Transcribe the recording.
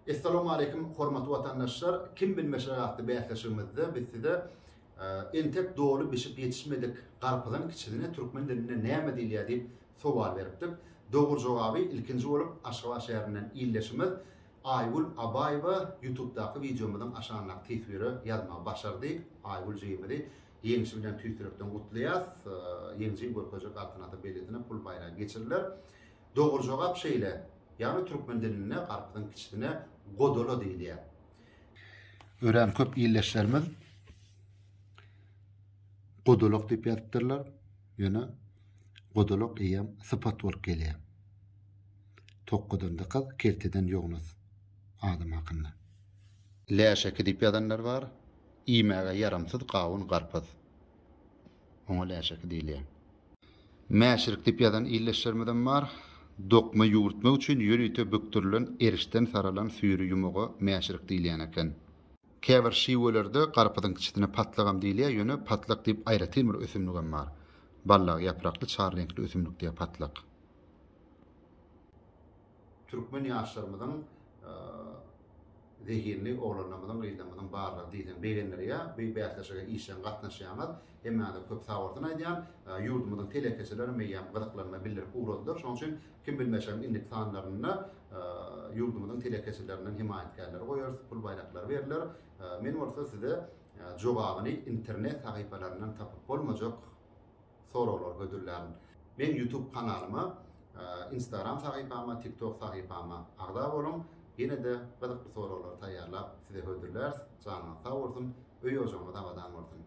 Essalamualeýkum hormatly watandaşlar kim bilmeşler atly bäsleşigimizde biz size entek doly bişip ýetişmedik garpyzyň kiçisine türkmen dilinde näme diýilýär diýip sowal beripdik. Dogry jogaby ilkinji bolup Aşgabat şäherinden ildeşimiz Aýgül Abaýewa ýutubdaky wideomyzyň aşagyndaky teswire ýazmagy başardy. Aýgül jigimizi ýeňşi bilen tüýs ýürekden gutlaýas. Ýeňji görkezjek altyn ata belgisine pul baýragy geçiriler. Dogry jogap şeýle, ýagny türkmen dilinde garpyzyň kiçisine godola diýilýär. Örän köp ildeşlerimiz godolak diýip ýazypdyrlar, ýöne godolak eýýäm sypat bolup gelýär. Tokgadan dykyz, kelteden ýognus adam hakynda. Läşeki diýip ýazanlar bar. Iýmäge ýaramsyz gawun garpyz. Oňa läşeki diýilýär. Mäşirik diýip ýazan ildeşlerimizem bar. Dokma ýüwürtmek üçin ýörite bükdürilen erişden saralan süýri ýumaga mäşirik diýilýän eken. Käbir şiwelerde garpyzyň kiçisine patlagam diýilýär, ýöne patlak diýip aýratyn bir ösümligem bar. Ballag ýaprakly, çar reňkli ösümlik diýilýär patlak. Türkmen ýaşlarymyzyň zehinli oglanlarymyzyň, gyzlarymyzyň barlygy diýseň begendirýär. Bu bäsleşige işjeň gatnaşýaňyz. Hemmäňize köp sag bolsun aýdýan. Ýurdumyzyň telekeçilerem eýýäm gyzyklanma bildirip ugradylar. Şonuň üçin Kim bilmeşegiň indiki sanlarynda ýurdumyzyň telekeçileriniň hemaýatkarlary goýarys, pul baýraklary berler. Men bolsa size jogabyny internet sahypalaryndan tapyp bolmajak soraglar hödürlärin. Meň YouTube kanalyma, Instagram sahypama, TikTok sahypama agza boluň. Ýene-de gyzykly soraglary taýýarlap size hödürläris. Janyňyz sag bolsun, öý-ojagyňyz abadan bolsun!